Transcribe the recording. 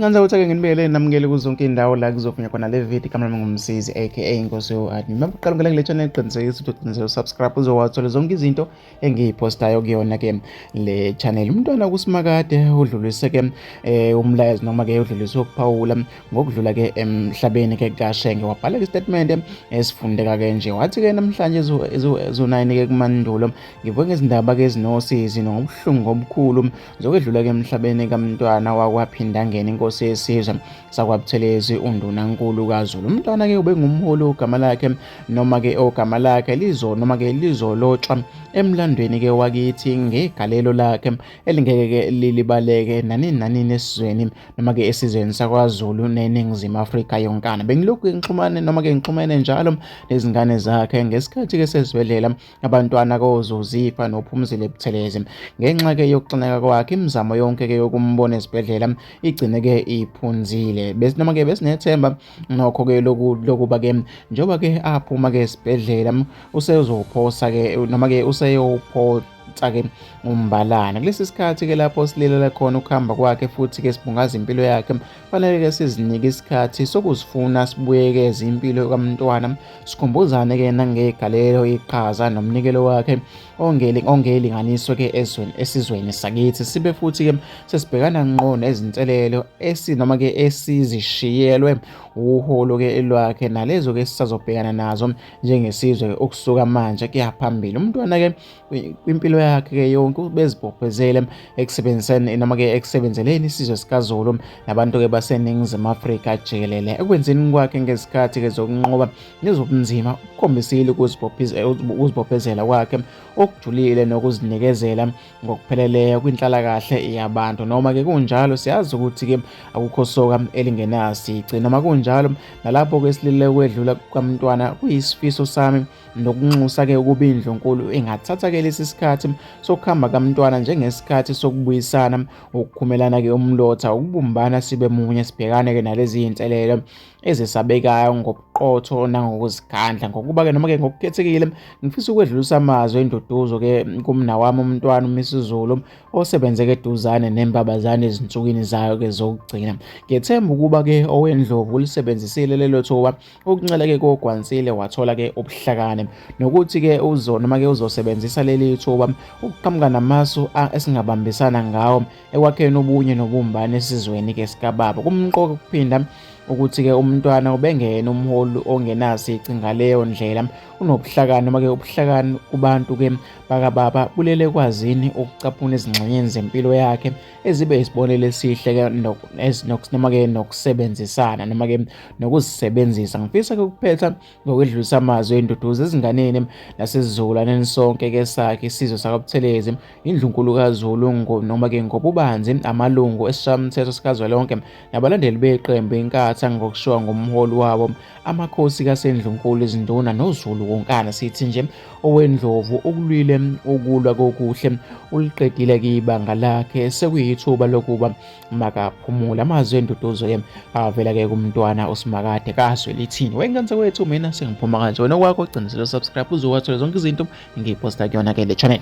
Ngandza ukuthi ake nginibekele namukele kuzonke indawo la kuzovunya khona le video kaMlami Ngumsizi aka Inkosi yoHani. Uma uqala ukungena kule channel qiniseka ukuthi uqinisele subscribe uzowathola zonke izinto engiyipostayo kuyona ke le channel. Umntwana kuSimakade udlulise ke eh, umlayezo noma ke udlulise ukuphawula ngokudlula ke emhlabeni ke kashenge wabhalela isitatimende esifundeka ke nje wathi ke namhlanje ezonayini ke kumandulo ngivuke ngezindaba ke ezinosizi nobuhlungu obukhulu zokwedlula ke emhlabeni kamntwana wakwaphindangeni inkosi yesizwe sakwabuthelezi undunankulu kazulu umntwana ke ubengumholi ogama lakhe noma ke ogama lakhe lizo noma ke lizolotshwa emlandweni ke wakithi ngegalelo lakhe elingeke ke lilibaleke nanini nanini esizweni noma-ke esizweni sakwazulu neningizimu afrika yonkana bengilokhu ngixhumane noma-ke ngixhumene njalo nezingane zakhe ngesikhathi-ke sesibhedlela abantwana kozozifa nophumzile buthelezi ngenxa-ke yokuxineka kwakhe imizamo yonke-ke yokumbona esibhedlela igcine-ke iphunzile noma-ke besinethemba nokho-ke lokuba-ke njengoba-ke aphuma-ke esibhedlela usezophosa-ke noma-ke useyophosa Sake umbalana kulesi sikhathi ke lapho silelela khona ukuhamba kwakhe futhi ke sibungaza impilo yakhe fanele ke sizinike isikhathi sokuzifuna sibuyekeze impilo kamntwana sikhumbuzane ke nangegalelo iqhaza nomnikelo wakhe ongeli ongelinganiso ke ezweni esizweni sakithi sibe futhi ke sesibhekana ngqo nezinselelo esinoma ke esizishiyelwe uholo ke elwakhe nalezo ke sisazobhekana nazo njengesizwe ukusuka manje kuyaphambili umntwana ke kwimpilo yakhe ke yonke ubezibophezele ekusebenziseni noma ke ekusebenzeleni isizwe sikazulu nabantu ke baseningizimu afrika jikelele ekwenzeni kwakhe ngezikhathi ke zokunqoba nezobunzima ukukhombisile ukuzibophezela kwakhe okujulile nokuzinikezela ngokupheleleyo kwinhlalakahle yabantu noma ke kunjalo siyazi ukuthi ke akukho soka elingenasici noma kunjalo nalapho ke silile kwedlula kukamntwana kuyisifiso sami nokunxusa ke ukuba indlunkulu ingathatha ke lesi sikhathi sokuhamba kamntwana njengesikhathi sokubuyisana ukukhumelana ke umlotha ukubumbana sibe munye sibhekane ke nalezi zinselelo ezisabekayo ngobuqotho nangokuzikhandla ngokuba ke noma ke ngokukhethekile ngifisa ukwedlulisa amazwi enduduzo ke kumna wami umntwana uMisizulu osebenze ke duzane nembabazane ezinsukwini zayo ke zokugcina ngethemba ukuba ke owendlovu ulisebenzisile lelo thuba Ukuncela-ke kogwansile wathola-ke ubuhlakani nokuthi-ke uzo noma-ke uzosebenzisa leli thuba ukuqhamuka namasu esingabambisana ngawo ekwakheni ubunye nobumbano esizweni-ke sikababa kumqoka ukuphinda ukuthi-ke umntwana ubengena umholi ongenasici ngaleyo ndlela unobuhlakani noma-ke ubuhlakani kubantu-ke bakababa bulele kwazini ukucaphuna ezingxenyeni zempilo yakhe ezibe isibonelo esihle-ke noma-ke nokusebenzisana noma-ke nokuzisebenzisa ngifisa ke ukuphetha ngokwedlulisa amazwi enduduzo ezinganeni nasezizukulwaneni sonke ke sakhe isizwe sakabuthelezi indlunkulu kazulu noma ke ngobubanzi amalungu esishamthetho sikazwelonke nabalandeli beqembu inkatha ngokushiwa ngomholi wabo amakhosi kasendlunkulu izinduna nozulu wonkana sithi nje owendlovu ukulwile ukulwa kokuhle uliqedile ke ibanga lakhe sekuyithuba lokuba makaphumula amazwi enduduzo yem avela ke kumntwana usimakade kazwe lithini wengane wethu mina sengiphuma kanje wena okwakho ugcinisele subscribe uzowathola zonke izinto ngiyiposta kuyona ke le channel